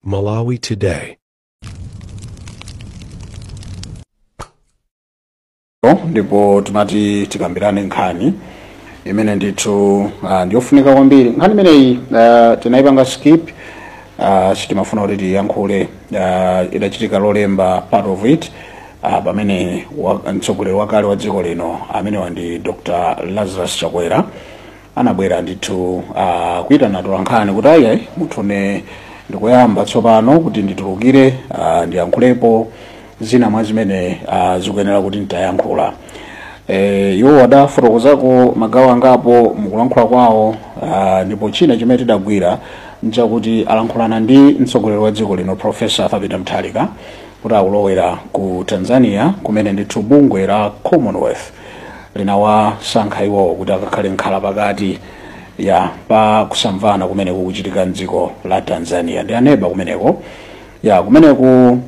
Malawi Today. ndipo timati tikambirane nkhani imene ndithu uh, ndiyofunika kwambiri nkhani imeneyi uh, tinayipanga skip uh, sitimafuna kuti tiyankhule uh, idachitika lolemba part of it uh, pamene wa- mtsogoleri wakale wa dziko lino amenewa ndi dr lazarus chakwera anabwera ndithu ah, kuitana atolankhani kuti ayi mutuwe ndikuyamba tsopano kuti nditulukire ah, ndiyankhulepo zina mwa zimene ah, zikuyenera kuti nditayankhula Eh, iwo adafotokozako magawo angapo mukulankhula kwawo ah, ndipo china chimene tidagwira nchakuti alankhulana ndi mtsogoleri wa dziko lino profesa Arthur Peter Mutharika kuti akulowera ku Tanzania kumene ndithu bungwe la Commonwealth linawasankha iwowo kuti akakhale nkhala pakati ya pa kusamvana kumene kukuchitika mdziko la tanzania ndi aneba kumeneko ya kumeneku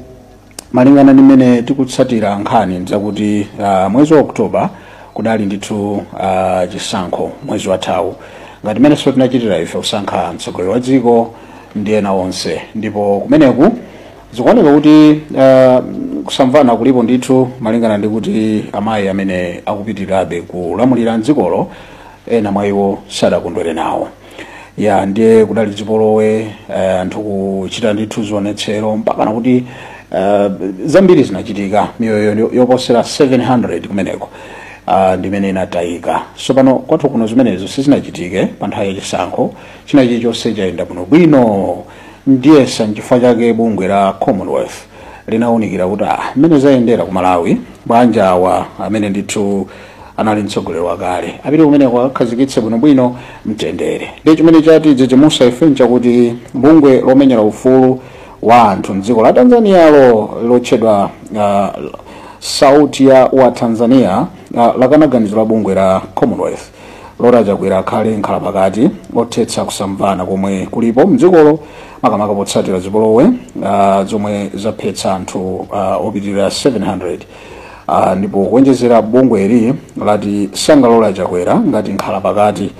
malingana ndi mmene tikutsatira nkhani ndzakuti uh, mwezi wa oktoba kudali ndithu uh, chisankho mwezi wathawu ngati mmenenso tinachitira ife kusankha mtsogoleri wa dziko ndi ena onse ndipo kumeneku zikuoneka kuti uh, kusamvana kulipo ndithu malingana ndi kuti amayi amene akupitirirabe kulamulira mdzikolo ena mwa iwo sadakondwere nawo ya ndiye kudali zipolowe eh, anthu kuchita ndithu zionetsero mpakana kuti eh, zambiri zinachitika miyoyo yo- yoposera 700 kumeneko ah, ndimene inatayika tsopano kwathu kuno zimenezo sizinachitike pa nthawi ya chisankho china chilichonse chayenda bwinobwino ndiyetsa nchifukwa chake bungwe la commonwealth linawunikira kuti ah, mmene zayendera ku malawi bwanji awa amene ndithu anali mtsogoleri wakale apite kumeneko akakhazikitse bwinobwino mtendere ndiye chimene chatidzidzimutsa ife nchakuti bungwe lomenyera ufulu wa anthu mdziko la tanzanialo lotchedwa ah, sauti ya watanzania ah, lakana ganizo la bungwe la commonwealth lolora chakwera akhale nkhala pakati othetsa kusamvana komwe kulipo mdzikolo makamaka potsatira zipolowe uh, zomwe zaphetsa anthu uh, opitirira 700 uh, ndipo kuonjezera bungweli lati silingalore chakwera ngati nkhala pakati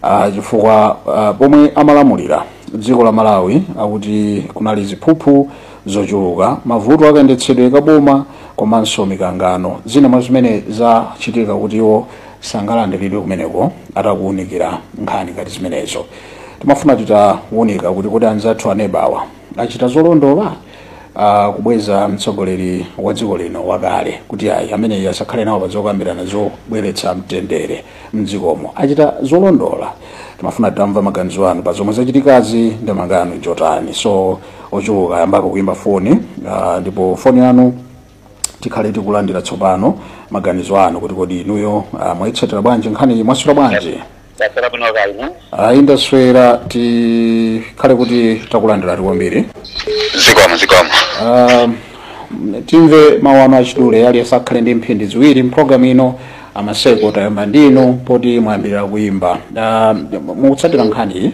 uh, chifukwa uh, pomwe amalamulira dziko la malawi akuti kunali ziphuphu zochuluka mavuto akayendetsedwe kaboma komanso mikangano zina mwa zimene zachititsa kuti iwo sangalandiridwe kumeneko titakuwunikira nkhani ngati zimenezo timafuna titawunika kuti kodi anzathu anebawa achita zolondola uh, kubweza mtsogoleri wa dziko lino wakale kuti ayi ameneyi asakhale nawo pazokambirana zobweretsa mtendere mdzikomo achita zolondola timafuna titamva maganizo anu pa zomwe zachitikazi ndemanga yanu njotani So ochuluka ayambako kuimba foni uh, ndipo foni yanu tikhale tikulandira tsopano maganizo anu kuti kodi inuyo ah, mwayitsatira bwanji nkhani iyi mwaswera bwanji ndaswera bwino kaya inu ayi ndaswera tikhale kuti takulandirani kwambiri zikomo zikomo Ah, timve mawu anu achidule aliyense akhale ndi mphindi ziwiri mpulogalamu ino a Maseko tayamba ndinu poti mwayambirira kuyimba Ah, mukutsatira nkhani iyi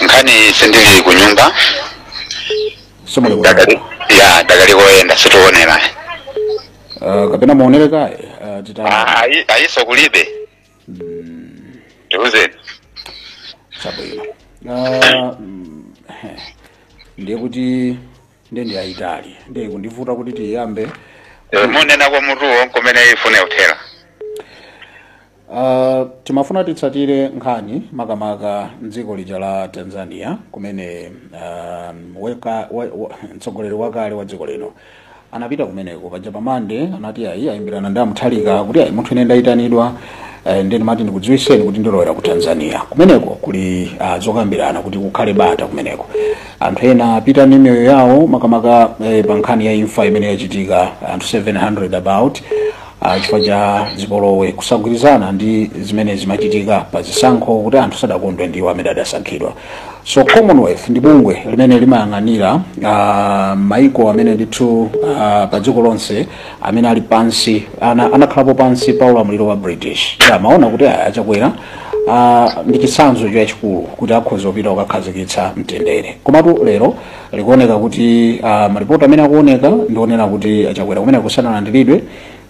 nkhani sindili kunyumba simuli kuno ndakali ya ndakali koyenda sitiwonera Ah, kapena muonere kaye ah, tita Ah, wayi- wayilesi kulibe tiuzeni chabwino Ah, mm, ndiye kuti ndiye ndi ayitali ndiye kundivuta kuti tiyambe Eh, munenako mutuwo nkumene ifune uthera Uh, timafuna titsatire nkhani makamaka mdziko lija la Tanzania kumene uh, weka, we, we, mtsogoleri wakale wa dziko lino anapita kumeneko paja pa Monday anati ayi ayimbirana ndi a Mutharika kuti ayi munthu ine ndayitanidwa eh, nde ndimati ndikudziwitseni kuti ndilowera ku Tanzania kumeneko kuli uh, zokambirana kuti kukhale bata kumeneko anthu ena apita ndi miyoyo yawo makamaka eh, pa nkhani ya imfa imene yachitika anthu 700 about ah, chifukwa cha zipolowe kusagwirizana ndi zimene zimachitika pa zisankho kuti anthu sadakondwe ndi iwo amene adasankhidwa so Commonwealth ndi bungwe limene limayang'anira ah, maiko amene ndithu ah, pa dziko lonse amene ali pansi ana- anakhalapo pansi pa ulamuliro wa British Yeah, amaona kuti ayi a Chakwera ah, ndi chitsanzo chachikulu kuti akhoza kupita kukakhazikitsa mtendere komatu lero zikuoneka kuti uh, maripoti amene akuoneka ndi onena kuti a Chakwera kumeneko sanalandiridwe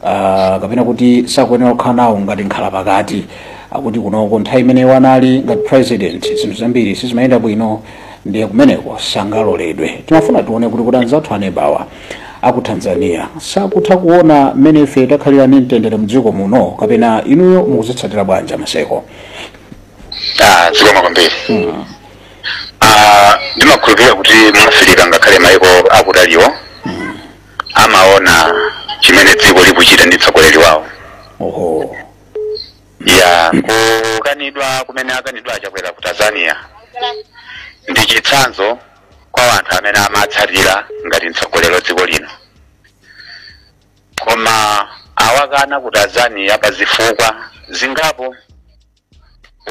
uh, kapena kuti sakuyenera kukhala nawo ngati mkhalapakati akuti kunoko nthawi imene iwo anali ngati president zinthu zambiri sizimayenda bwino ndiye kumeneko sangaloledwe timafuna tione kuti kodi anzathu anebawa aku Tanzania sakutha kuona mmene ife takhalira ndi mtendere mdziko muno kapena inuyo mukuzitsatira bwanji a Maseko Ah, zikomo kwambiri Ah, ndimakhulupirira kuti mu Afirika ngakhale maiko akutaliwo amaona chimene dziko likuchita ndi mtsogoleri wawo oho ya kukanidwa kumene akanidwa a Chakwera ku Tanzania ndi chitsanzo kwa anthu amene amatsatira ngati mtsogoleri wa dziko lino koma awakana ku Tanzania pa zifukwa zingapo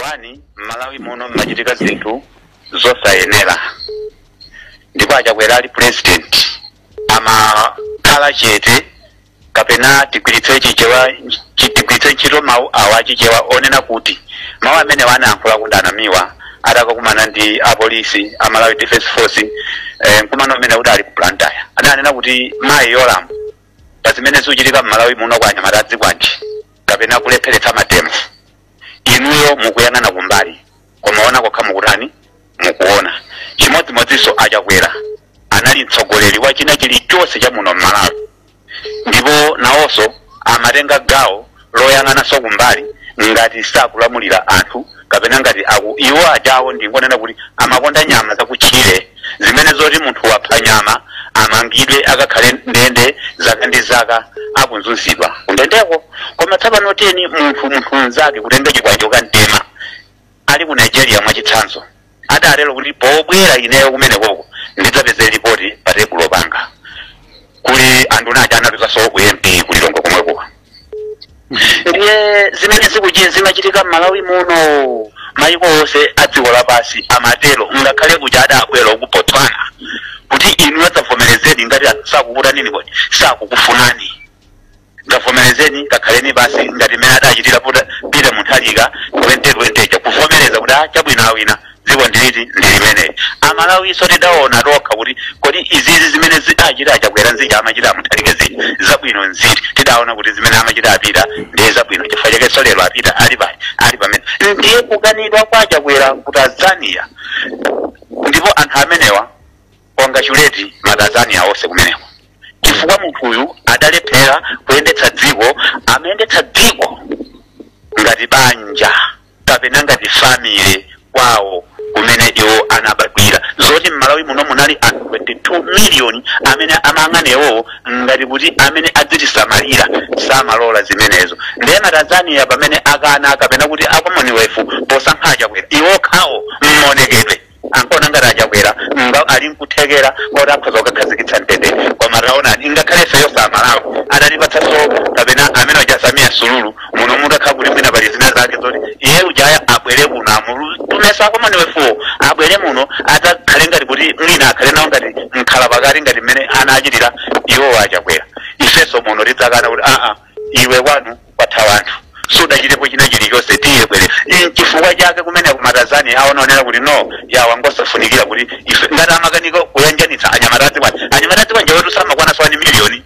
wani mmalawi muno mmachitika zinthu zosayenera ndipo a Chakwera ali president amakhala chete kapena tigwiritse chichewa chi- tigwiritse ntchito mawu awa a Chichewa onena kuti mawu amene anayankhula a Mtuli Namiwa atakakumana ndi apolisi a Malawi Defense Force eh, mkumano umene kuti ali ku Blantyre adanena kuti mayi Yolamu pa zimene zikuchitika mmalawi muno kwa anyamata azikwanje kapena kulepheretsa mademo inuyo mukuyang'ana kumbali koma ona kokha mukutani mukuona chimodzimodzinso a Chakwera anali mtsogoleri wa china chilichonse cha muno mmalawi ndipo nawonso amatenga gawo loyang'ananso kumbali ngati sakulamulira anthu kapena ngati iwo ajawo ndingonena kuti amakonda nyama zakutchire zimene zoti munthu wapha nyama amangidwe akakhale ndende zaka ndi zaka akuzunzidwa kundendeko koma tsopano tiyeni munthu munthu mnzake kutenga chikwanje kamtema ali ku Nigeria mwachitsanzo adatero kuti pobwera ineyo kumenekoko ndidzapeze lipoti pa tebulo panga kuli anduna aja anatuzaso a MP ku Lilongwe komweko ndiye zimene zikuchi- zimachitika m'Malawi muno mayiko onse a dziko lapansi amatero ngakhale kuja adabwera a ku Botswana kuti inuyo dzavomerezeni ngati sakukutanini kodi sakukufunani dzavomerezeni kakhaleni pansi ngati mmene adachitira Pita Mutharika 2020 kuvomereza kuti ah, chabwino awina dziko ndilitu ndi limeneli amalawinso tidaona tokha kuti kodi izizi zimene adachita a Chakwera zija amachita a Mutharika zija zabwino nziti tidaona kuti zimene amachita a Pita ndiye zabwino chifukwa chakenso lero a Pita ali pali ali pamene ndiye kukanidwa kwa a Chakwera ku Tanzania ndipo anthu amenewa congratulate ma Tanzania onse kumeneko chifukwa munthuyu adalephera kuyendetsa dziko amayendetsa dziko ngati banja kapena ngati family kwawo kumene iwo anabadwira zoti mmalawi muno munali anthu 22 miliyoni amene amayang'ana iwowo ngati kuti amene adzitisamalira samalola zimenezo ndiye ma Tanzania pamene akana kapena kuti a Commonwealth posankha a Chakwera iwokhawo mmonekedwe ankaona ngati achakwera ali nkuthekera koti akhoza kukakhazikitsa mtendere koma taonani ingakhale ifeyo amalawi adatipatsanso kapena amene uja samia suluhu muno mutakhala kuti mwina pali zina zake zoti iye ujaya abwere kuno amutume a commonwealthwo abwere muno adzakhale ngati kuti mwina akhale nawo ngati mkhala pakati ngati mmene anachitira iwowo achakwera ifenso muno tidzakana kuti aa iwe kwanu kwafa wanthu sudachitepo china chilichonse tiye bwerera nchifukwa chake kumene ku tanzania anaonera kuti no yawa ngosafunikira kuti ife ngati amakanika kuyanjanitsa anyamatazi kwani anyamatazi kwanja wetu samakwana wani miliyoni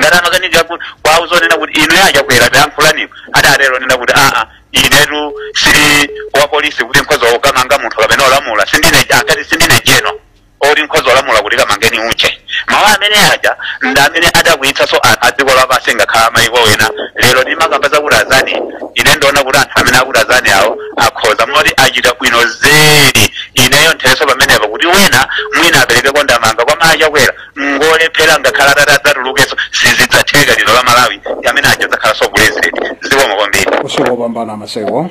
ngati amakanika ku- kwawo kunena kuti inu achakwera tayankhulaniko adatero nena kuti aa inetu sindili wapolisi kuti nkhoza kukamanga munthu kapena olamula sindine akati sindine jeno oti nkhoza kulamula kuti kamangeni uje mawu amene aja ndi amene adakwiyitsanso anthu a dziko lapansi ngakhale amayiko ena lero timakamba za ku tanzania ine ndiona kuti anthu amene aku tanzania awo akhoza moti achita bwino zedi ineyo nthere pamenepo kuti wena mwina aperekeko ndemanga koma achakwera ngolephera ngakhale atati adzatulukenso sizidzatheka lino la malawi amene aja adzakhalanso president zikomo kwambiri usiku wopambana maseko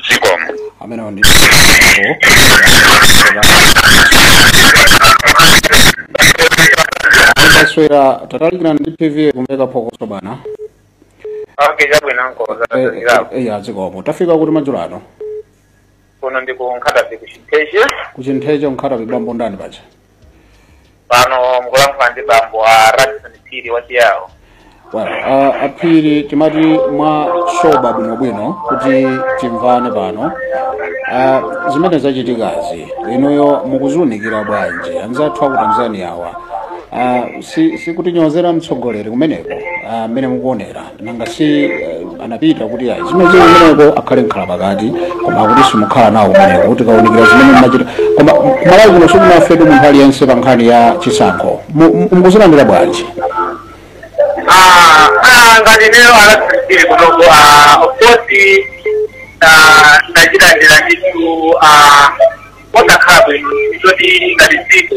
zikomo amenewo ndi a swera tatalikirani ndi tv kumveka phokoso bana okay chabwino nkoza Eh, tatsekapo eh, ya zikomo tafika kuti madzulo ano kuno ndi ku nkhata bay ku chintheche ku chintheche ku nkhata bay bambo ndani paja pano mukulankhula ndi bambo a radison phiri wachiyawo Well, uh, aphiri timati mwaswera bwinobwino kuti timvane pano uh, zimene zachitikazi inuyo mukuziunikira bwanji anzathu aku tanzania awa uh, si, si kutinyozera mtsogoleri kumeneko mmene uh, mukuonera nanga si eh, anapita kuti ayi zimene zili kumeneko akhale mkhala pakati koma akuti simukhala nawo kumeneko kutikaunikira zimene mumachita koma kumalawi kuno sikunafetu munthu aliyense pa nkhani ya chisankho Mu- mu- mukuzilandira bwanji Ah, ah, ngati ineyo anasirikiri kunoko ah, of course ah, ndachilandira ndithu ah, osakhala bwino poti ngati dziko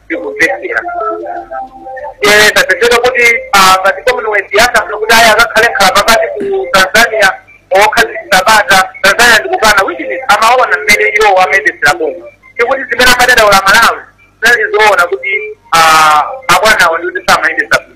zikuvekera tapezeka kuti ah, ngati commonwealth yakafuna kuti ayi akakhale nkhala pakati ku tanzania kukhazikisa bata tanzania ndikukana which is amaona mmene iwo amayendesera boma ndikuti zimene amadandaula amalawi zinali zoona kuti ah, abwanawo ndikuti samayendesa bwino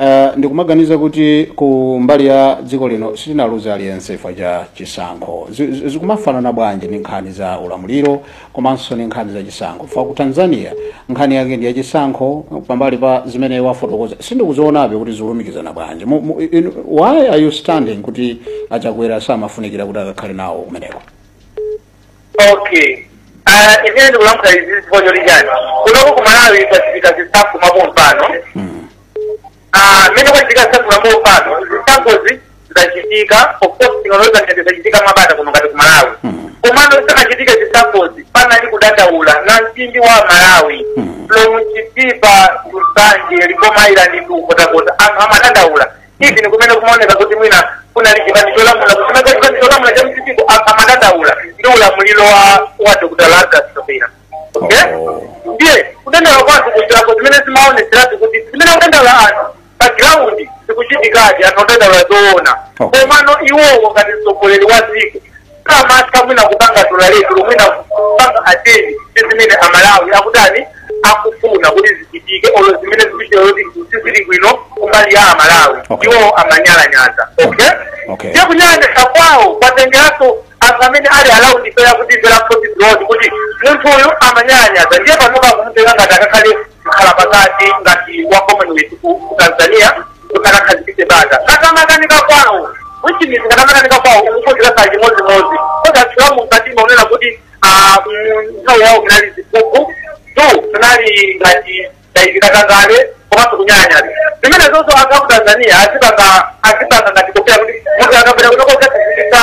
Uh, ndikumaganiza kuti ku mbali ya dziko lino sitinaluze aliyense chifukwa cha chisankho Zi- zi- zikumafanana bwanji ndi nkhani za ulamuliro komanso ndi nkhani za chisankho fa ku tanzania nkhani yake ndi ya chisankho pambali pa zimene wafotokoza sindikuzionabe kuti zikulumikizana bwanji Mu- mu- inu- why understanding kuti achakwera samafunikira kuti akakhale nawo kumeneko okay Ah, ine ndikulankhula izi chifukwa choti chani kunoku ku malawi kwachitika zisankho mwapompano Ah, mmene kwachitika zisankho mwapompano zisankhozi zidachitika of course tinalozera ngati zidachitika mwabata kuno ngati ku malawi komano zisanachitike zisankhozi panali kudandaula na mtundu wa malawi from chitipa ku nsanje likoma island nkhotakota anthu amadandaula even kumene kumaoneka kuti mwina kunali chipani cholamula kusimeka chipani cholamula cha mcp amadandaula ndi ulamuliro wa wa dr lazarus chakwera okay Oh. ndiye kudandaula kwa anthu kuchilako zimene zimaoneseratu kuti zimene akudandaula anthu pa ground zikuchitikadi anthu akudandaula zoona Okay. komano iwowo ngati mtsogoleri wa dziko samatha mwina kupanga dola letulo mwina kupanga ateni ndi zimene amalawi akutani akufuna kuti zichitike olo zimene zikuchitika zoti sizili bwino kumbali ya amalawi Okay. iwo amanyalanyaza okay Okay. ndiye kunyalanyaza kwawo kwatengeranso anthu amene ali around ife kuti mvera khoti ziloti kuti munthu uyu amanyalanyaza ndiye panopa akumutenga ngati akakhale mkhala pakati ngati wa commonwealth ku ku tanzania kuti akakhazikitse bata kakamakanika kwawo which means kakamakanika kwawo ukukonzera sa chimodzimodzi kodi atchula mkatimu akunena kuti ah, mm, nthawi yawo kunali ziphuphu two kunali ngati za katangale komanso kunyalanyaza zimenezonso anthu aku tanzania azipanga azipanga ngati kuopera kuti munthu akabwera kuno kukakhazikitsa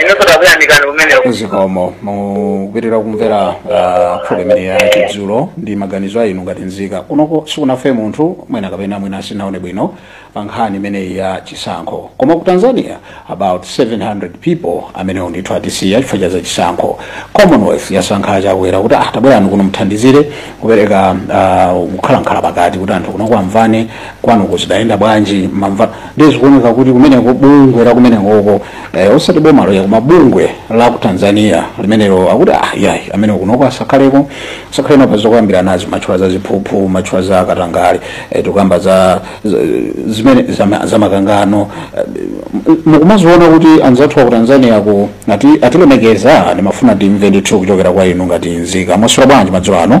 inunso takuyamikani kumeneko zikomo mukupitiriza kumvera uh, program imeneyi ya chindunji ndi maganizo a inu ngati nzika kunoko sikunafe munthu mwina kapena mwina sindinaone bwino pa nkhani imeneyi ya chisankho koma ku tanzania about 700 people amenewo ndithu atisiya chifukwa cha za chisankho commonwealth yasankha achakwera kuti ah tabwerani kuno muthandizire kupereka uh, kukhala mkhala pakati kuti anthu kunoko amvane kwanu kuja zidayenda bwanji mwamva ndiye zikuoneka kuti kumeneko bungwe la kumenekoko eh, osati bomalo ayi koma bungwe la ku tanzania limenelo akuti ah, yayi amene kunoko asakhaleko asakhale nawo pa zokambiranazi mwatchula za ziphuphu mwatchula za katangale eh, tikukamba za za- zimene za ma- za makangano eh, m- mukumaziona kuti anzathu aku tanzania ku ati- atilemekeza ndimafuna timve ndithu kuchokera kwa inu ngati nzika mwaswera bwanji madzulo ano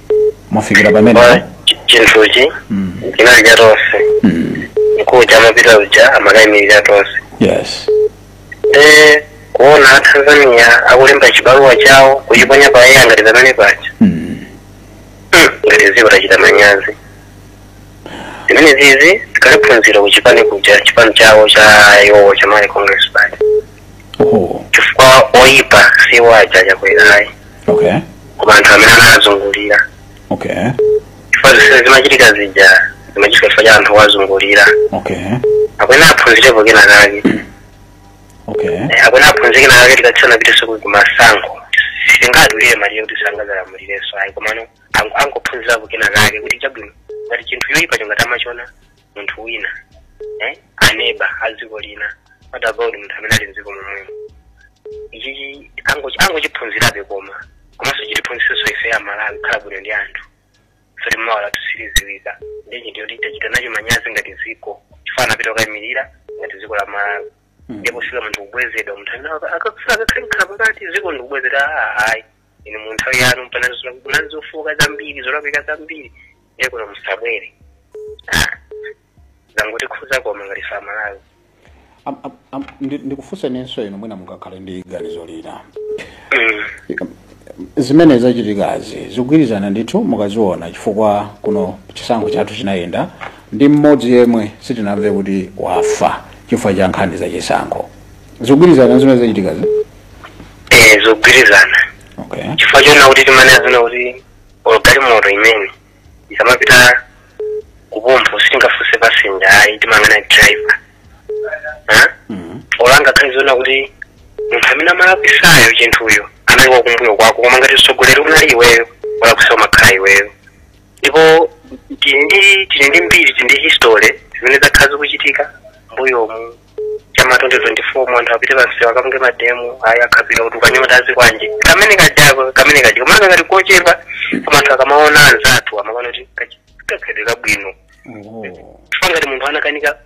mwafikira pamene Koma chi- chinthuchi Mm. chinali cha tonse Mm. mkuluja amapita uja amakayimirira tonse yes te kuona atanzania akulemba chibaluwa chawo kuchiponya pa air ngati pamene paja Mm. Hmm, ngati dziko tachita manyazi zimenezizi tikaliphunzira kuchipani kuja chipani chawo cha iwowo cha malawi congress party oho chifukwa oyipa si aja chakwera ayi okay koma anthu amene anazungulira okay chifukwa zimene zimachitika zija zimachitika chifukwa cha anthu owazungulira okay akuyenera aphunzirepo kena kake okay Eh, akuyenera aphunzire kena kake tikatsala pang'ono tsiku kumasankho sitingadulire malire kuti sangadzalamulirenso ayi komano ang- angophunzirapo kena kake kuti chabwino ngati chinthu choyipa chonga tamachiona munthu wina eh? neba a dziko lina what about munthu amene ali mdziko momwemo ichichi angochi- angochiphunzirabe koma komanso chitiphunzisenso ife a malawi kukhala bwino ndi anthu zoti mawa lathu siliziwika ndi chinthu choti tachita nacho manyazi ngati dziko chifukwa anapita kukayimirira ngati dziko la malawi ndipo sikuti munthu kubwezedwa munthu amene aka- akakufuna akakhale mkhala pakati dziko ndikubwezedwa ayi inu mu nthawi yanu mpanazula kunali zofoka zambiri zolakwika zambiri ndiye kuno musabwere Ah, zangotikhuza koma ngati ife a malawi Am- am- am- ndi- ndikufunsenenso inu mwina mungakhale ndi ganizo lina Mm. zimene zachitikazi zikugwirizana ndithu mukaziona chifukwa kuno chisankho chathu chinayenda ndi mmodzi yemwe sitinamve kuti wafa chifukwa cha nkhani za chisankho zikugwirizana ndi zimene zachitikazi eh, zogwirizana okay chifukwa chona kuti timanena zina kuti or galimoto imene ikamapita kuphompho sitingafunse pasenja ayi timangonena driver Ha? Mhm. or angakhale zona kuti munthu amene amalakwisayo chinthuyo anali wakumbuyo kwako koma ngati mtsogoleri unali iweyo wolakwitsa umakhala iweyo ndipo tili ndi tili ndi mbiri tili ndi history zimene zakhala zikuchitika mbuyomu chama 2024 anthu apite pansewu akapange mademo ayi akhapidwa kuti ukanyota azikwanje kamene kajako kamene kaja komano ngati kochepa koma anthu akamakaona anzathu amakaona kuti kachi- kakhedwe kabwino Oh. chifukwa ngati munthu anakanika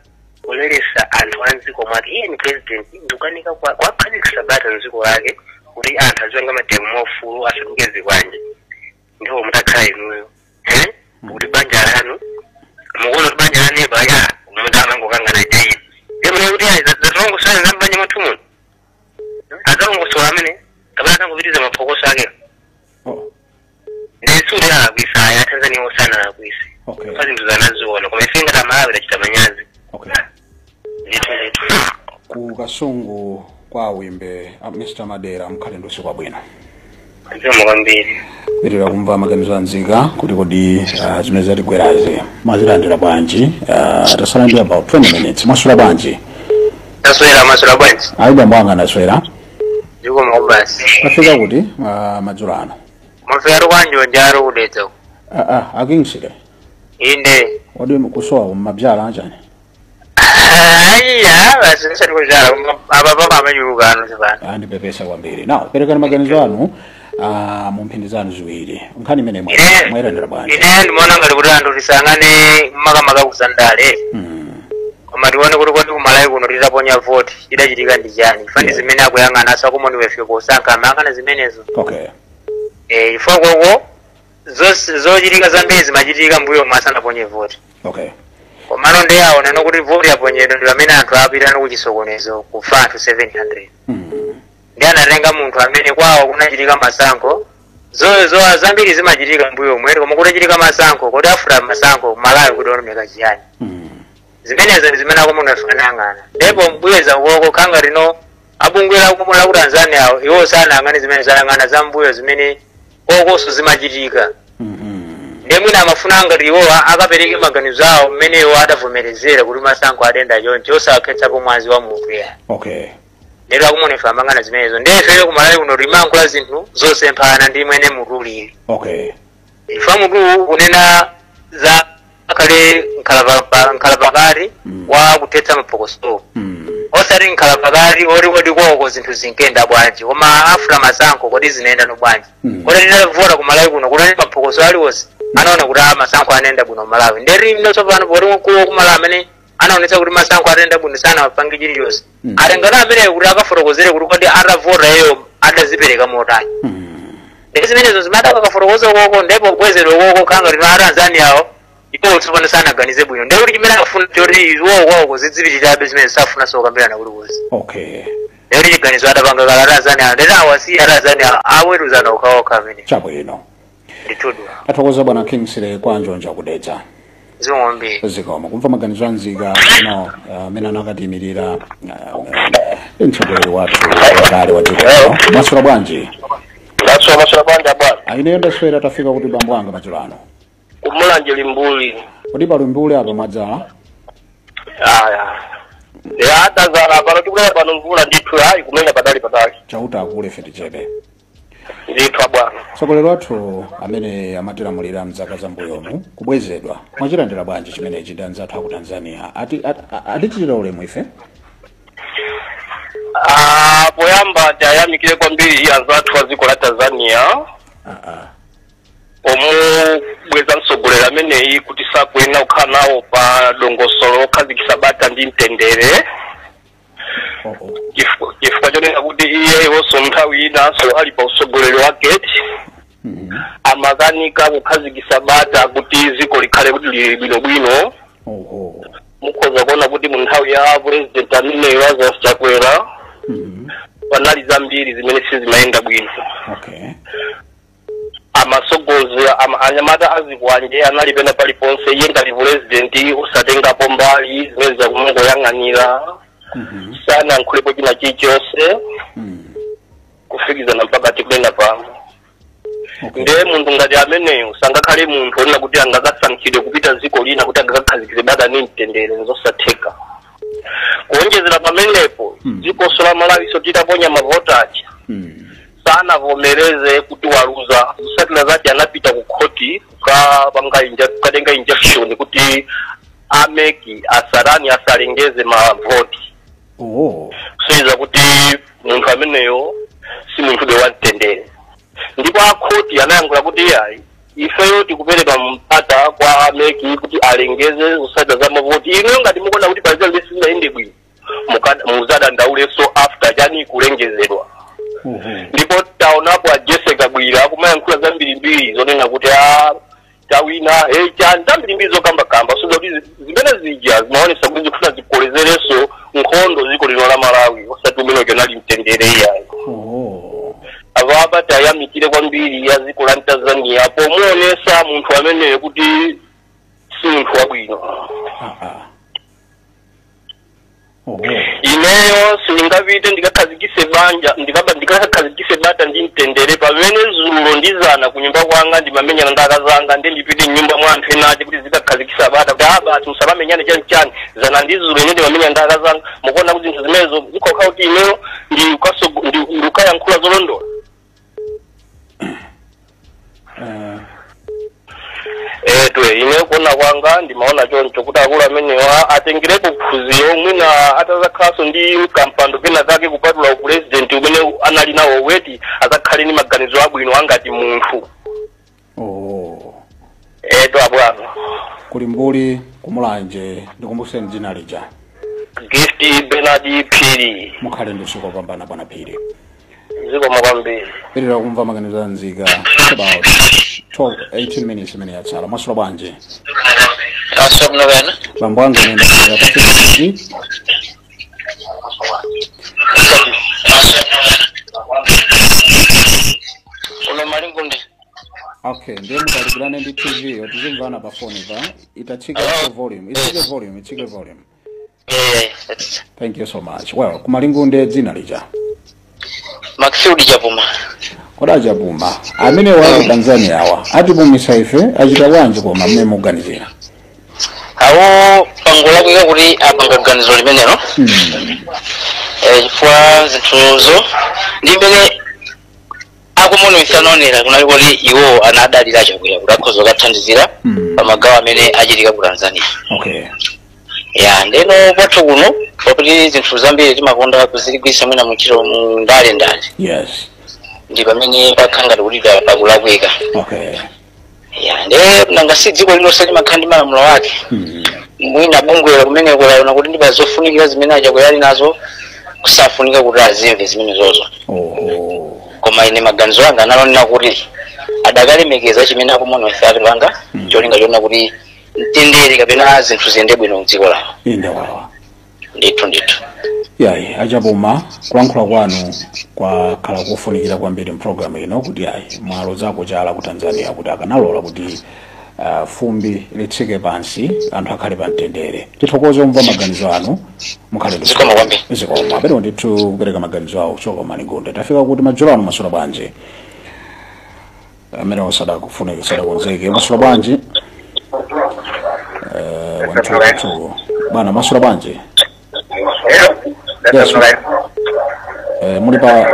kuleretsa anthu a mdziko mwake iye ni president ndikukanika kwa- kwakhazikisa bata mdziko lake kuti anthu azipanga mademo mwaufulu asatenge zikwanje ndipo mutakhala inuyo eh? kuti banja lanu mukuona kuti banja lanu neba ya munthu amangokangana eti ndi kunena kuti ayi adzatilongosole za mbanja mwathu muno adzalongosola amene kapena adzangopitiriza maphokoso ake Oh, ndiye sikuti alakwisa ayi atanzania sanalakwise okay. pa zinthu zimene anaziona koma ife ngati amalawi tachita manyazi Okay. ndithu ndithu ku kasungu kwa wimbe a mr madera mukhale ndi usiku wabwino zikomo kwambiri tipitiriza kumva maganizo anzika kuti kodi uh, zimene zatigwerazi mwazilandira bwanji uh, tatsala ndi about 20 minutes mwaswera bwanji taswera mwaswera bwanji ayi bambo anga ndaswera zikomo kwabasi tafika kuti uh, madzulo ano mafero kwanjo njaro kudedza uko. uh, uh, akingshire inde kodi kusowa kumabzala chani aiya basi tisati kubzala koma apa papa amachuluka ano zipano andipepesa kwambiri now perekani maganizo anu ah, mu mphindi zanu ziwiri nkhani imene mwa- ine mwailandira bwanji ine ndimaona ngati kuti anthu tisayang'ane makamaka ku zandale Mm, koma tione kuti kodi kumalawi kuno titaponya voti chidachitika ndi chani chifukwa ndi Yeah. zimene akuyang'ana a commonwealth kusankha amayang'ana zimenezo okay Eh, chifukwa koko zos- zochitika zambiri zimachitika mbuyomu asanaponye voti okay komano ndiye aonano kuti voti yaponyedwa ndi pamene anthu apitano kuchisokonezo kufa anthu 700 mm. ndiye anatenga munthu amene kwawo kunachitika masankho zo zo zambiri zimachitika mbuyomu koma kutachitika masankho kodi after masankho malawi kuti onomeka chiyani Mm. zimenezo ndi zimene a commonwealth anayang'ana ndipo kubweza ukoko kukhala ngati no a bungwe la ku la ku tanzania awo, iwo sanayang'ane zimenezo ayang'ana za mbuyo zimene kokonso zimachitika ndiye mwina amafuna ngati iwo a- akapereke maganizo awo mmene iwo adavomerezera kuti masankho adayenda choncho osakhetsapo mwazi wa munthu ya okay lero a commonwealth amayang'ana zimenezo ndiye ifeyo kumalawi kuno timankhula zinthu zosemphana ndi mmene mutu ulili okay chifukwa mutuwu ukunena za akhale nkhalapa- nkhalapakati Mm. wa kuthetsa maphokoso Mm. osati nkhalapakati oti kodi koko zinthu zinkenda bwanji koma after masankho kodi zinayendano bwanji Mm. kodi titavota ku malawi kuno kunali maphokoso aliwonse anaona kuti a masankho anayenda bwino malawi ndiyeno tsopano poti mkulu wa ku malawi amene anaonetsa kuti masankho atayenda bwino sanapange chilichonse Mm. atengano ameneyo kuti akafotokozere kuti kodi atavota iyeyo adazipereka motani ndiye zimenezo zimene akadakafotokoza ukoko ndipo kubwezedwa ukoko kukhala ngati no a tanzania awo iwo tsopano sanaganize bwino ndiye kuti chimene akufuna choti iwo kwawoko zidzipitirabe zimenezo safuna zokambirana kuti kuzi okay ndiye kuti chiganizo adapanga kale a tanzania awo ndiye awasiye a tanzania awo aweruzane okhaokha amene chabwino ndithudi tathokoza bwana kingsley kwa njonja ku dedza zikomo kwambiri zikomo kumva maganizo a nzika ino amene anakatiimirira uh, mtsogoleri wathu wakale wa dziko lino mwaswera bwanji ndaswera mwaswera bwanji bwana ayi ineyo ndaswera tafika kuti bambo anga madzulo ano kumulanje limbuli kodi pa limbuli apa mwadzala aya ya tadzala pano tikulaya pano mvula ndithu ayi kumenya patali patali chauta akule fetichebe ndithu bwana mtsogoleri wathu amene amatilamulira mzaka zambuyomu kubwezedwa mwachilandira bwanji chimenechi ndi anzathu aku tanzania ati at- a- atichitira ulemu ife Ah, poyamba tiyamikire kwambiri anzathu a dziko la tanzania Ah, ah. pomubweza mtsogoleri ameneyi kuti sakuyenera kukhala nawo pa dongosolo okhazikitsa bata ndi mtendere Chifu- chifukwa chonena kuti iyeyonso nthawi inanso ali pa utsogoleri wake amakanika kukhazikisa bata kuti dziko likhale kuti lili bwinobwino oho mukhoza kuona kuti mu nthawi ya president ameneyi lazarus chakwera panali zambiri zimene sizimayenda bwino okay amasogozi am, anyamata azikwanje anali pena paliponse iye ngati pulezidenti osatengapo mbali zimenezo akumangoyang'anira Mhm. sanankhulepo china chilichonse Mm. kufikizana mpaka tikunena pano Okay. ndiye munthu ngati ameneyo sangakhale munthu onena kuti angakasankhidwe kupita dziko lina kuti angakakhazikise bata ni mtendere nzosatheka kuonjezera pamenepo Hmm. dzikonso la malawiso titaponya mavoti aja Mm. sanavomereze kuti waluza otsatira ake anapita ku khoti kukapanga inja- kukatenga injection kuti a MEC asarani asalengeze mavoti oh. kusonyeza kuti munthu ameneyo si munthu be wamtendere ndipo akhoti anayankhula kuti ayi ifeyo tikupereka mpata kwa a MEC kuti alengeze zotsatira za mavoti inuyo ngati mukuona kuti pazina zake sizinayende bwino muka- muzadandaulenso after chani kulengezedwa ndipo taonapo a jessie kabwila akumayankhula zambirimbiri zonena kuti a tawina hey, chani zambirimbiri zokambakamba kusonyeza kuti zi- zimene zija zimaonesa kuti zikufuna zikolezerenso nkhondo ziko lino la malawi osati umene uja unali mtendere iyayo apapa tayamikire kwambiri a dziko la tanzania pomuonesa munthu ameneyo kuti si munthu wabwino oho ineyo sindingapite ndikakhazikise banja ndikaba ndikakhazikise bata ndi mtendere pamene zulo ndi zana ku nyumba kwanga ndimamenyana ndi akazanga ndi ndipite mnyumba mwa anthu ena ake kuti nzikakhazikisa bata kuti abambo musamamenyane chani chani zana ndi zulo ine ndimamenyana ndi akazanga mukuona kuti zinthu zimenezo zikhoza kukhala kuti ineyo ndikaso- ndi- ndikayankhula zolondola Eh, ndiye ine kuona kwanga ndimaona choncho kuti akulu amenewa atengerepo phunziro mwina atazakhalanso ndi kampando kena kake kupatula upulezidenti umene anali nawo oti azakhale ndi maganizo abwino angati munthu oh eto abwana ku limbuli ku mulanje ndikumbuseni dzina lija gift bernard phiri mukhale ndi usiku wopambana bwana phiri zikomo kwambiri tipitirize kumva maganizo a nzika It's about 12 18 minutes imene yatsala mwaswera bwanji asomno wena bambo anga nenda pa 50 uno malingunde okay ndiye mutalikirane ndi tv yo tizimvana pa foni pa itatsika so volume itsike volume itsike volume eh thank you so much well kumalingunde dzina lija Maxfield Chapuma. kodi achapuma amenewa aku tanzania awa atipumisa ife achita bwanji koma mmene muganizira Awo pangolakwika kuti apanga ganizo limenelo. Eh, chifukwa zinthuzo ndi mmene a commonwealth anaonera kunali kuti iwo anadalira chakwera kuti akhoza kukathandizira Mm. pa magawo amene achitika ku tanzania okay ya ndeno kwathu kuno pakuti zinthu zambiri timakonda kuzigwiritsa mwina muntchito mu ndale ndale yes ndi pamene pakhala ngati kuti pa- pakulakwika okay ya nde nanga si dziko lilonse limakhala ndi malamulo ake Mhm. mwina bungwelo kumeneko laona kuti ndi pazofunikira zimene achakwera ali nazo kusafunika kuti azimve zimenezozo Oho. koma ine maganizo anga anali onena kuti adakalemekeza chimene a commonwealth atipanga cholinga chonena kuti mtendere kapena zinthu ziyende bwino mdziko lawo Inde wawa. ndithu ndithu yayi achapuma kulankhula kwanu kwakhala kofunikira kwambiri mpulogalamu ino kuti yayi mwalozako chala ku tanzania kuti akanalola kuti uh, fumbi litsike pansi anthu akhale pa mtendere tithokoze kumva maganizo anu mukhale ndi Zikomo kwambiri. zikomo apete ndithu kupereka maganizo awo choka malingunde tafika kuti madzulo ano mwaswera bwanji amenewo sadakufuna sadakonzeke mwaswera bwanji Eh, wantukutuku bwana mwaswera bwanji Yes, right. Eh, muli pa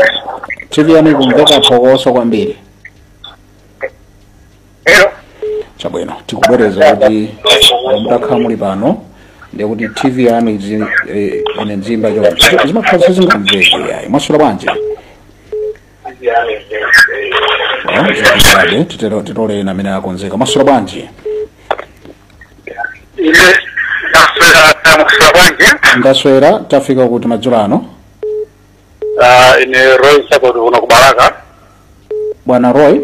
tv yanu ikumveka phokoso kwambiri Hello. chabwino tikubwereza kuti mutakhala muli pano ndiye kuti tv yanu izi- eh, ine nzimba choncho zimakhala sizingamveke yayi mwaswera bwanji titoleni amene akonzeka mwaswera bwanji ine ndaswera kaya mwaswera bwanji ndaswera tafika kuti madzulo ano Ah, ine roy sakoti kuno kubalaka bwana roy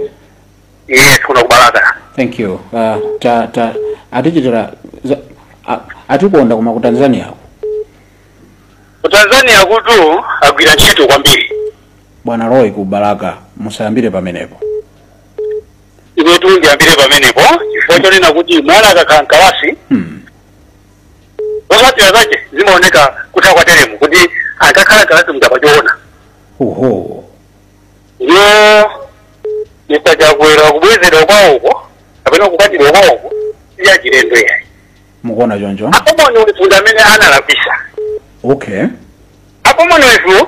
eya kuno kubalaka thank you uh, ta, ta, atichitira za- a- atikonda koma ku tanzania ku tanzaniakutu agwira ntchito kwambiri bwana roy ku balaka musayambire pamenepo inetu ndiyambire pamenepo chifukwa chonena kuti mwana akakhala mkalasi hmm. zotsatira zake zimaoneka kutha kwa telemu kuti akakhala mkalasi mchapa choona oho ndiyo mr chakwera kubwezedwa kwawoko kapena kukwatidwa kwawoko siya chilendo yayi mukuona choncho apo moni ulifunde amene analakwisa okay apo moni wefu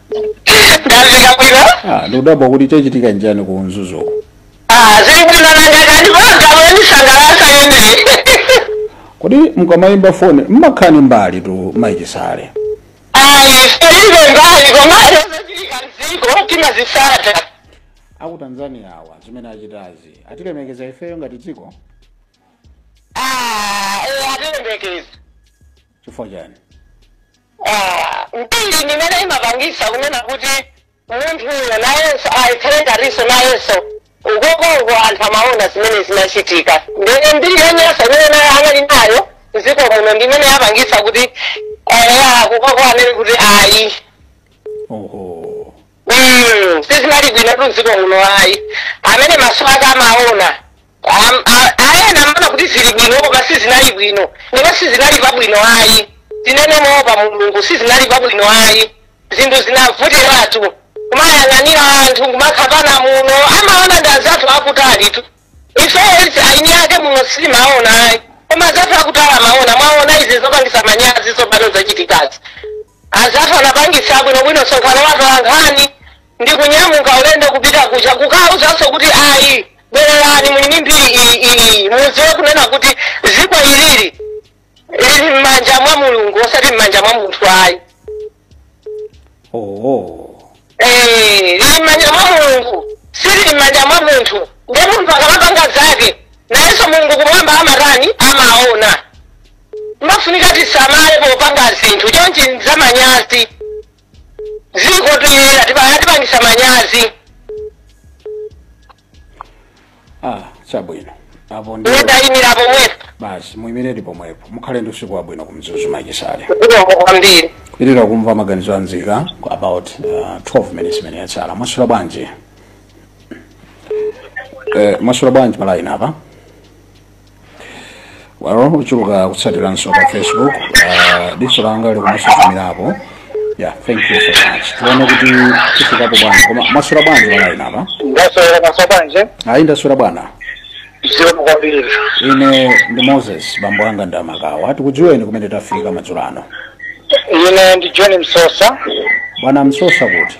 ndafika bwino Ah, ndikudabwa kuti chachitika njani ku mzuzuku Ah, zili bwino nangakati pagabo yandisangalasa yemwe kodi mukamayimba foni mmakhala mbali tu mayi chisale ayi tilibe mbali komayo zachilika mdziko timazisata aku tanzania awa zimene achitazi atilemekeza ifeyo ngati dziko Ah, eh, atilemekeza chifukwa chani Ah, mbiri ndimene imapangisa kunena kuti munthuyo nayenso akhale ngatinso nayenso ukokoko anthu amaona zimene zinachitika ndene mbiri yonyasa imene naye anali nayo mdziko muno ndimene yapangisa kuti akukoko anene kuti ayi oho Mm, sizinali bwinotu mdziko muno ayi amene maso ake amaona Am- a- ayena amaona kuti zili bwino koma sizinali bwino ndipo sizinali pabwino ayi tinene moopa mulungu sizinali pabwino ayi zinthu zinavutiratu kumayang'anira anthu kumakhapana muno amaona ndi azathu akutalitu ifeyo eni ake muno sitimaona ayi koma azathu akutali amaona mwaona izi zopangisa manyazi zopano zachitikazi Anzathu anapangitsa bwinobwino msonkhano wa atolankhani ndi kunyamuka ulendo kupita kuja kukauzanso kuti ayi bwererani muli ndi mbiri iyi iyi mudziwe kunena kuti dziko ilili lili m'manja mwa mulungu osati m'manja mwa munthu ayi oh. Eh, lili m'manja mwa mulungu silili m'manja mwa munthu nde munthu akamapanga zake nayenso mulungu kumwamba amatani amaona Mpofunika tisamale popanga zinthu chonchi nzamanyazi dziko tuyera tibaya tipangisa manyazi ah chabwino apo ndi ndidayimira pomwepo basi muyimire pomwepo mukhale ndi usiku wabwino kumzuzu mayi chisale zikomo kwambiri kupitilira kumva maganizo anzika ku about uh, 12 minutes imene yatsala mwaswera bwanji eh, mwaswera bwanji palaini apa walo uchuluka kutsatiranso pa facebook ah, diso langa likumasuzumirapo yeah thank you so much tione kuti tifikapo bwana koma mwaswera bwanji palaini apa ndaswera mwaswera bwanji ayi ndaswera bwana zikomo kwambiri ine ndi moses bambo anga ndi amakawa tikudziweni kumene tafika madzulo ano ine ndi john msosa bwana msosa kuti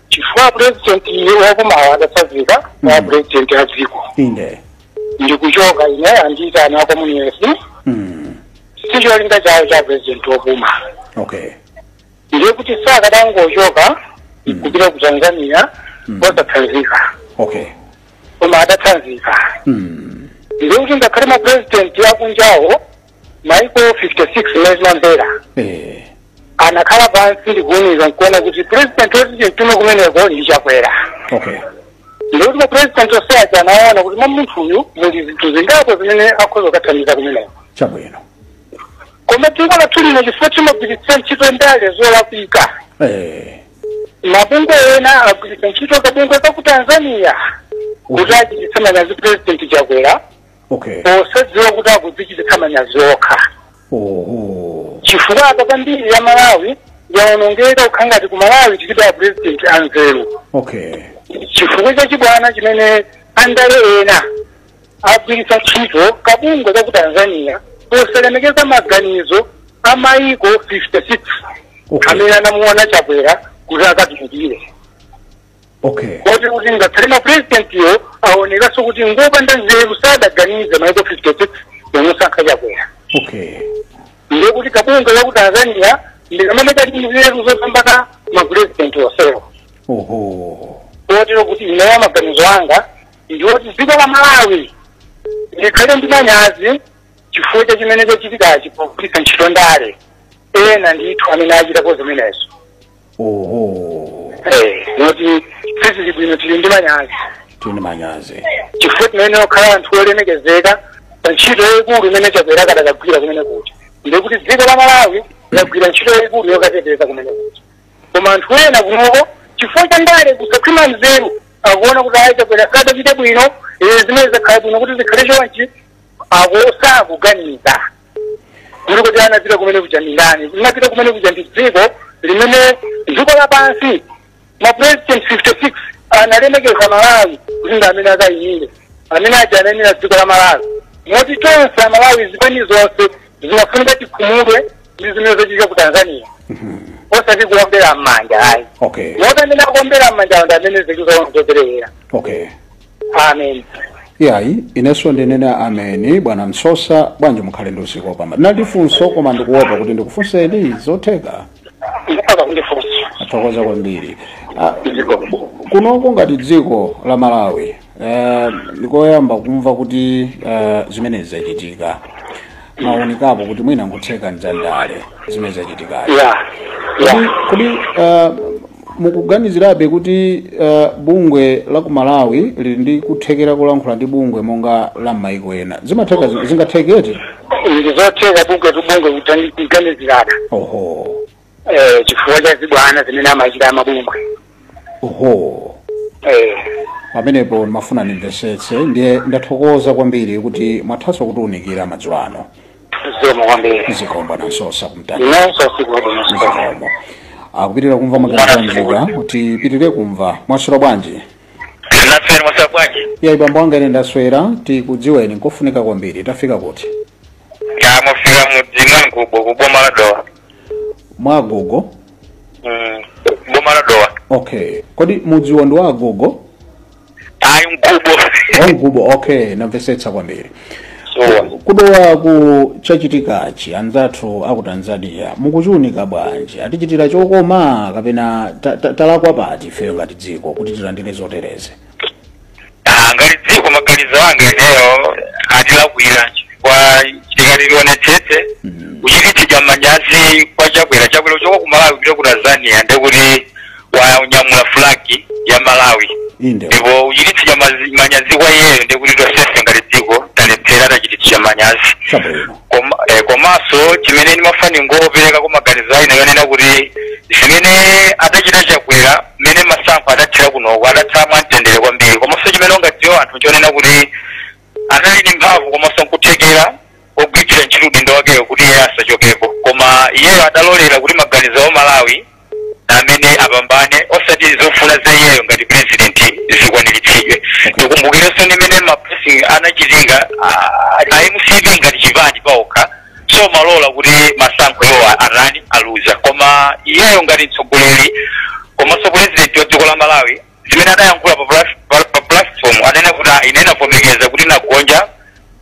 chifukwa purezidenti wopuma adatsanzika kwa purezidenti a dziko inde ndikuchoka ine andiitana ku Tanzania mm. sicholinga chawo cha purezidenti wopuma okay ndiye kuti sakadangochoka kupita ku tanzania osatsanzika okay koma adatsanzika mm. ndiye kuti ngakhale mapurezidenti akunjawo maiko 56 mmene timamvera Eh. anakhala pansi ndikuwunika nkuona kuti president woti timtume kumeneko ndi Chakwera Okay. ndiye kuti ma president onse aja anaona kuti mwa munthu uyu muli zinthu zingapo zimene akhoza kukathandiza kumeneko Chabwino. koma dziko lathu lino chifukwa timagwiritsa ntchito ndale zolakwika Eh. mabungwe ena agwiritsa ntchito kabungwe ka ku tanzania kuti achititse manyazi president Chakwera okay posadziwa kuti akudzichititsa manyazi okha oho chifukwa apa mbiri ya Malawi yaonongeka kukhala ngati ku Malawi tilibe a president anzeru okay chifukwa cha chibwana chimene andale ena agwiritsa ntchito kabungwe ka ku tanzania posalemekeza maganizo a maiko 56 Okay. amene anamuona Chakwera kuti akatumikire okay kotero kuti ngakhale mapurezidentiwo aonekanso kuti ngopanda nzeru sadaganize maiko 56 pomusankha Chakwera okay ndiye kuti kabungwe ka ku tanzania ndikamene kali ndi nzeru zopambana mapurezidenti onsewo oho kotero kuti ineyo maganizo anga ndiwoti dziko la malawi likhale ndi manyazi chifukwa cha chimene chachitikachi pogwiritsa ntchito andale ena ndithu amene achitapo zimenezo oho Eh, moti sizili bwino tili ndi manyazi tili ndi manyazi chifukwa tinayenera kukhala anthu olemekezeka pa ntchito yayikulu imene Chakwera akadakagwira kumene kuja ndiye kuti dziko la malawi lagwira ntchito yayikulu yokateteza kumene kuja koma anthu ena kunoko chifukwa cha ndale kusakhwima nzeru akuona kuti ayi chakwera sadachite bwino eh, zimene zakhala bwino kuti zikhale chonchi osakuganiza kuti anapita kumene kuja ndi ndani linapita kumene kuja ndi dziko limene dziko lapansi ma president 56 analemekeza malawi kuti ndi amene akayimire amene aja anayimira dziko la malawi moti tonse amalawi zipani zonse zinafunika tikhumudwe ndi zimene zachitika ku tanzania osati kuombera m'manja ayi okay moti amene akuombera m'manja ndi amene zikuperewera okay amen yayi inenso ndinene ameni bwana Msosa bwanji mukhale ndi usiku wopambana ndinali funso koma ndikuopa kuti ndikufunseni zotheka mutha kundifunsa ndathokoza kwambiri Ah, dziko kunoko ngati dziko la malawi eh, ndikoyamba kumva kuti eh, zimenezi zachitika mawonekapo kuti mwina nkutheka ndi zandale zimene zachitikazi ya ya kodi kodi uh, mukuganizirabe kuti uh, bungwe la ku malawi lili ndi kuthekera kulankhula ndi bungwe monga la m'mayiko ena zimatheka zi- zingatheketi ndi zotheka bungwe to bungwe kuganizirana oho eh, chifukwa cha zibwana zimene amachita amabungwe oho eh, pamenepo ndimafuna ndimvesetse ndiye ndathokoza kwambiri kuti mwathaso kutiunikira madzulo ano zikomo kwambiri zikomo nansosa kumtani inenso usiku wabwino zikomo zikomo akupitira kumva maganizo kuti tipitirire kumva mwaswera bwanji naswera mwaswera bwanji iye bambo anga ine ndaswera tikudziweni nkofunika kwambiri tafika kuti ya mwafika m'mudzi mwa mgubo kuboma la dowa mwa agogo mm, boma la dowa okay kodi mudziwo ndi wa agogo ayi mgubo wa mgubo okay namvesetsa kwambiri so ku dowaku chachitikachi anzathu aku tanzania mukuchiunika bwanji atichitira chokoma kapena ta- ta- talakwa pati ifeyo ngati dziko kuti tilandire zotereze Ah, ngati dziko maganizo anga ineyo atilakwira chifukwa tikati tionetsetse kuchititsidwa manyazi kwa chakwera chakwera uchoka ku malawi kupita ku tanzania ndekuti wanyamula fulagi ya malawi inde ndipo uchititsidwa mazi- manyazi kwa iyeyo ndekuti tosefe ngati dziko talephera tachititsidwa manyazi chabwino koma eh, komanso chimene ndimafuna ningoperekako maganizo a ineyo onena kuti zimene adachita chakwera mmene masankho adathera kunoko adatha mwamtendere kwambiri komanso chimene ungadziwa anthu chonena kuti anali ndi mphamvu komanso nkuthekera ogwiritsira ntchito udindo wakeyo kuti iye asachokepo koma iyeyo adalolera kuti maganizo a malawi amene apambane osati zofuna za iyeyo ngati president zikwaniritsidwe tikumbukirenso ndi mmene ma press anachitika a- a mcp ngati chipani paokha osamalola kuti masankho iwo atani aluza koma iyeyo ngati mtsogoleri komanso president wa dziko la malawi zimene adayankhula pa plas- pa- pa platform anena kuti "Ah, ine navomereza kuti nagonja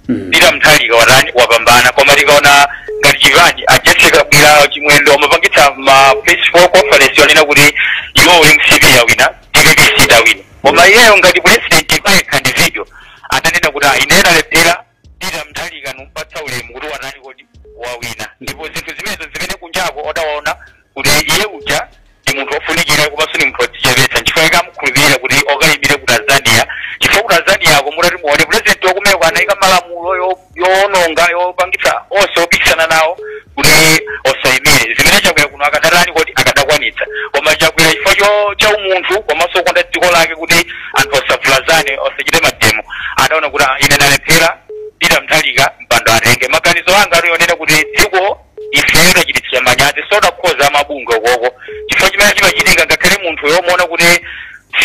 Mm. peter mutharika watani wapambana koma tikaona ngati chipani a jessie kabwila chimwendo amapangitsa ma press conference yonena kuti iwo uli mcp yawina dpp sidawina koma iyeyo ngati president payekha ndi video ananena kuti "Ah, ine ndalephera peter mutharika numpatsa ulemu kuti watani kodi wawina ndipo zinthu zimenezo zimene kunjako odawona kuti iye uja ndi munthu wofunikira komanso ndi munthu wodzichepetsa nchifukwa chake amukhulupirira kuti okayimire ku tanzania chifukwa ku tanzaniako mutati muone pulezidenti wakumeko anayika malamulo yo- yoononga yopangitsa onse opikisana nawo kuti osayimire zimene chakwera kuno akadatani kodi akadakwanitsa koma chakwera chifukwa cho- cha umunthu komanso kukonda dziko lake kuti anthu osavulazane osachite mademo adaona kuti "Ah, ine ndalephera peter mutharika mpando atenge maganizo anga ali onena kuti dziko ifeyo tachititsidwa manyazi sodakhoza amabungwe okoko chifukwa chimene chimachitika ngakhale munthuyo muona kuti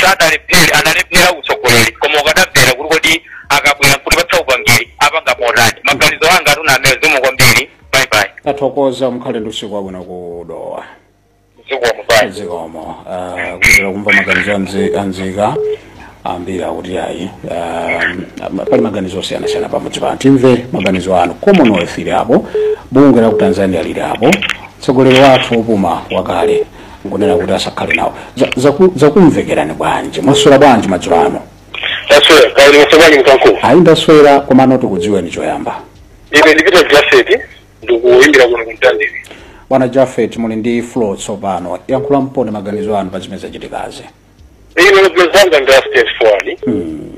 sadalephere analephera utsogoleri koma ukadamvera kuti kodi akabwera kutipatsa upangiri apanga motani maganizo anga atuna amene zikomo kwambiri bye bye tathokoza mukhale ndi usiku wabwino ku dowa zikomo bye zikomo ah, kuchokera kumva maganizo a mzi- a mzika ambiri akuti ayi ah, pali maganizo osiyanasiyana pamudzi pano timve maganizo anu commonwealth ili apo bungwe la ku tanzania lili apo mtsogoleri wathu wopuma wakale nkunena kuti asakhale nawo Za- zaku- zakumvekerani bwanji mwaswera bwanji madzulo ano taswera kaya mwaswera bwanji mkankulu ayi ndaswera komano tikudziweni choyamba ine ndi peter jafet ndikuyimbira kuno ku mtandire bwana jafet muli ndi floor tsopano yankhulamponi maganizo anu pa zimene zachitikazi ine maganizo anga ndi a straightforward Hmm.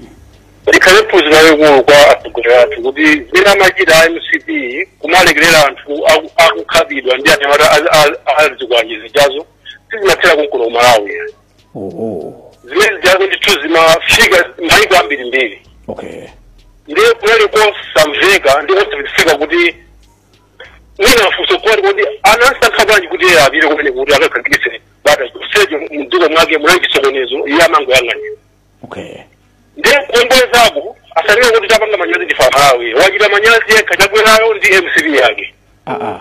likhale phunziro lalikulu kwa atsogoleri athu kuti zimene amachita a mcp kumalekerera anthu aku- akukhapidwa ndi anyamata a zikwanje zijazo sizimathera konkuno ku malawi oho zimene ndiyake ndithu zimafika maiko ambirimbiri okay ndiye kunali kosamveka ndi kosamveka kuti mwina mafunso kwati kuti anasankha bwanji kuti iye apite kumene kuti akakhazikitse bata chonsecho mdziko mwake munali chisokonezo iye amangoyang'anira okay ndiye kuombwezapo asalire kuti tapanga manyazi ndife amalawi wachita manyazi yekha chakwerayo ndi mcp yake ah ah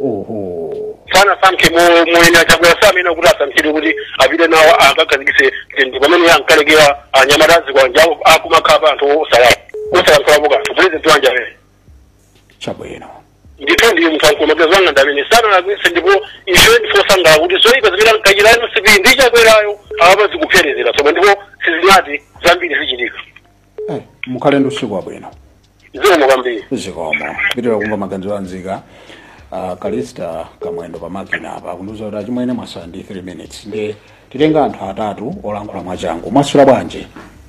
oho sanasankhe mo- moyenera chakwera samayenera kuti asankhidwe kuti apite nawo akakhazikitse ndi pamene iye ankalekera anyamata a zikwanje akumakhapa anthu osala- osalankhulapo kanthu pulezidenti wanji amene chabwino ndithu ndiye munthu kumaganizo anga ndamene sanalakwise ndipo ife ndife osangalala kuti zoyipa zimene ankachita mcp ndi chakwerayo awa apa zikupherezera tsopano ndipo sizinati zambiri zichitika Eh, mukhale ndi usiku wabwino zikomo kwambiri zikomo pitira kumva maganizo a nzika uh, kalista kamwendo pa makina apa akundiuza kuti achimwene mwasala ndi 3 minutes ndiye titenga anthu atatu olankhula mwachangu mwaswera bwanji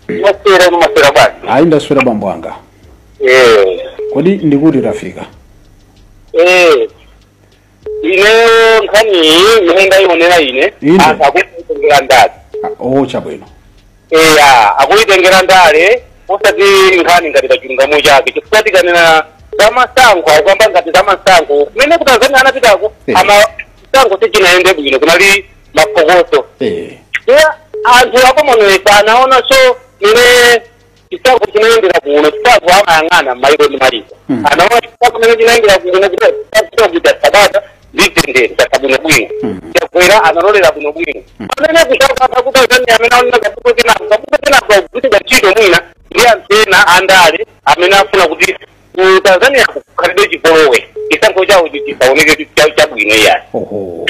ndaswera mwaswera bwanji ayi ndaswera bambo anga eh kodi ndikuti tafika eh ineyo nkhani iyi imene ndayionera ine Ine. anthu akuitengera ndale Ah, oh chabwino eya akuitengera ndale osati nkhani ngati pa chilungamo chake chifukwa tikanena za masankho akuyamba ngati za masankho kumene ku tanzania anapitako Eh. ama chisankho sichinayende bwino kunali mapokoso eh ya anthu a commonwealth anaonanso mmene chisankho chinayendera kuno chisankho amayang'ana maiko ndi maiko Mm. anaona chisankho mmene chinayendera kuno kuti chisankho kuja cha bata ndi mtendere chatha bwino bwino Mm. chakwera analolera bwino bwino Mm. amene kusankho a ku tanzania amene aonena kaputo kenako kaputo kenako akuchita ntchito mwina ndi anthu ena andale amene afuna kuti ku tanzania kukhalebe chipolowe chisankho chawo chisaoneke kuti cha- chabwino iyayi oho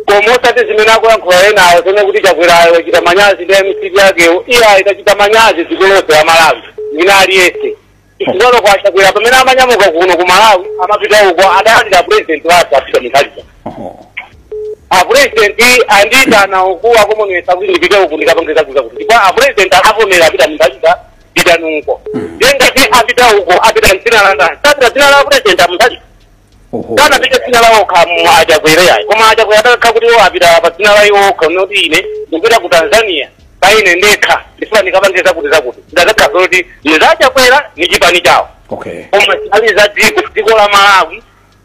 koma osati zimene akuyankhula enawo zonena kuti chakwerayo wachita manyazi ndi mcp yakeyo iyayi tachita manyazi dziko lonse la malawi mwina aliyense chifukwa kwa chakwera pamene amanyamuka kuno ku malawi amapita uko adayimbira president wathu a peter mutharika oho apresident andiitana uku a commonwealth kuti ndipite uku ndikapange zakuti zakuti ndipo apresident akavomera a peter mutharika pitani uko ndiye ngati apita uko apita mdzina la ndani apita mdzina la president a mutharika oho sanapite mdzina la iwo okha achakwera yayi koma achakwera atakhala kuti iwo apita pa dzina la iwo okha unoti ine ndikupita ku tanzania pa ine ndekha ndifuna ndikapange zakuti zakuti zidakakhala kuti ndi za achakwera ni chipani chawo okay koma zinali za dziko dziko la malawi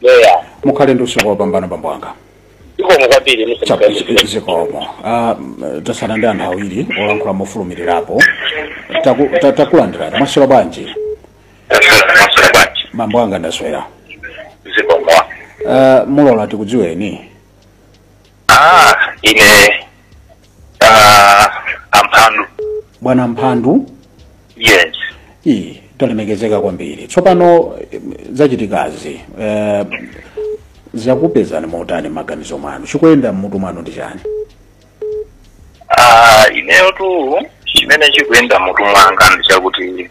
Yeah. mukhale ndi usiku wopambana bambo wanga Zikomo kwambiri mse Chapo, mkende. zikomo Ah, m- tatsala ndi anthu awiri olankhula mofulumirirapo Taku- ta- takulandirani mwaswera bwanji Mwaswera bwanji. bambo wanga ndaswera Zikomo. Ah, mulola tikudziweni Ah, ine ah, amphandu. bwana mphandu Yes. iyi talemekezeka kwambiri tsopano eh, zachitikazi eh, zakupezani motani mmaganizo mwanu chikuyenda mmutu mwanu ndi chani Ah, ineyotu chimene chikuyenda mmutu mwanga ndi chakuti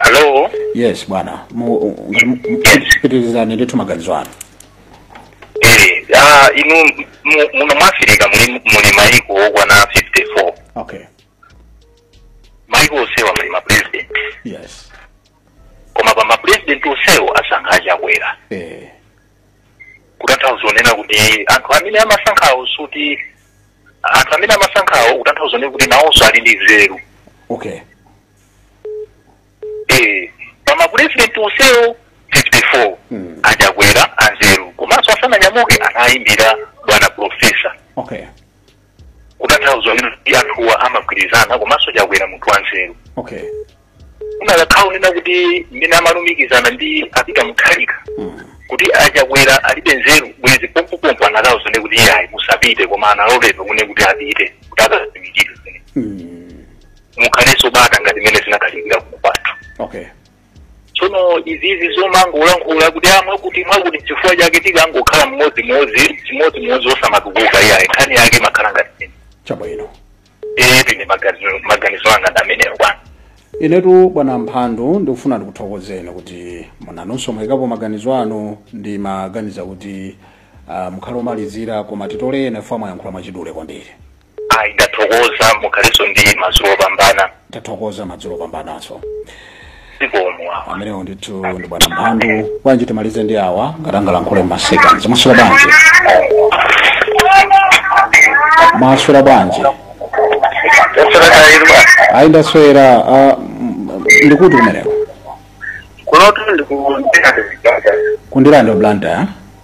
Hello. yes bwana Mu- u- ngati mu- mu- pitirizani ndithu maganizo anu Eh, ah, inu mu- muno mu Africa muli muli maiko okwana 54. okay Maiko onsewa muli ma president. yes Koma pa ma president onsewo asankha achakwera. eh Kutanthauza kunena kuti anthu amene amasankhawo zoti anthu amene amasankhawo kutanthauza kunena kuti nawonso ali ndi nzeru. okay Eh, pa ma president onsewo 54 Mm. achakwera anzeru komanso asananyamuke anayimbira bwana profesa okay kutanthauza kuti anthuwa amagwirizana komanso chakwera munthu wanzeru okay kunakakhala kunena kuti mmene amalumikizana ndi a peter mutharika Mm. kuti achakwera alibe nzeru bwezi pompopompo anakawauza kunena kuti iyayi musapite koma analoledwa kunena kuti apite kuti akaziwikire zimene Mm. mukhalenso bata ngati mmene zinakhalirira kuno kwathu okay tsono izizi zomangolankhula kuti a mwakuti mwakuti chifukwa chake tikangokhala mmodzimodzi chimodzimodzi osamatukuka iyayi nkhani yake imakhala ngati ine chabwino ee ndi maganizo maganizo anga ndi amenewo bwana inetu bwana mphandu ndikufuna ndikuthokozeni kuti mwinanso mwayikapo maganizo anu ndimaganiza kuti uh, mukhale omalizira koma titolere ena chifukwa mwayankhula mwachidule kwambiri ayi ndathokoza mukhalenso ndi madzulo opambana tathokoza madzulo opambananso zikomo awa amenewo ndithu ndi bwana mphandu bwanji timalize ndi awa ngati angalankhule m'masekondi mwaswera bwanji mwaswera bwanji yasorakayirwa ayi ndaswera ah, m- m- ndi kuti kumeneko kunotu ndikundikazikaka ku ndirande blantyre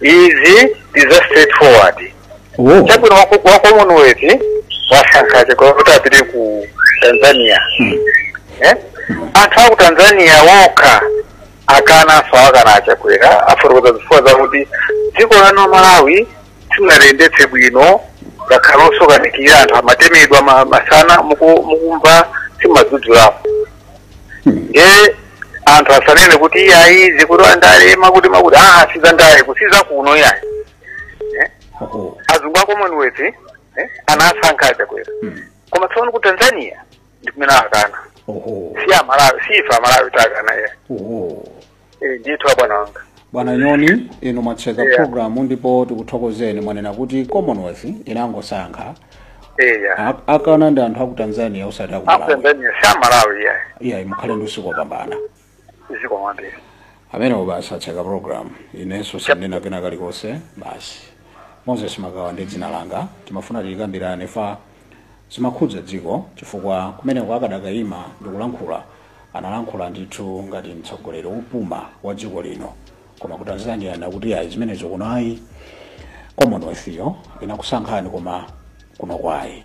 izi ndi za straight forward oh chabwino wa wa commonwealth wasankha achakwera kuti apite ku tanzania Eh? anthu aku tanzania wokha akananso awakana achakwera afotokoza zifukwa zakuti dziko lanu malawi simunaliyendetse bwino ngakhale osokanikira anthu amatemedwa ma- masana muku- mukumva simumadzudzulapo ndiye anthu asanene kuti iyayi izi kuti andale mwakuti mwakuti aa si zandale kuti zakuno iyayi Eh? oho azungu a commonwealth eh, anasankha achakwera Mm. koma tsopano ku tanzania ndikumene akana oho si amalawi si ife amalawi takana iyayi oho Eh, ndithu abwana wanga bwana nyoni inu mwatseka Yeah. programu ndipo tikuthokozeni mwanena kuti commonwealth inangosankha eya A- akana ndi anthu aku tanzania osati aku malawi aku tanzania si amalawi iyayi iyayi mukhale ndi usiku wopambana zikomo kwambiri amenewo basi atseka programu inenso sindinena kena kalikonse basi moses magawa ndi dzina langa timafuna tikambirane chifukwa zimakhudza dziko chifukwa kumeneko akadakaima ndikulankhula Analankhula ndithu ngati mtsogoleri wopuma wa dziko lino koma ku Tanzania anakuti ayi zimenezo kuno ayi Commonwealth yo inakusankhani koma kuno ayi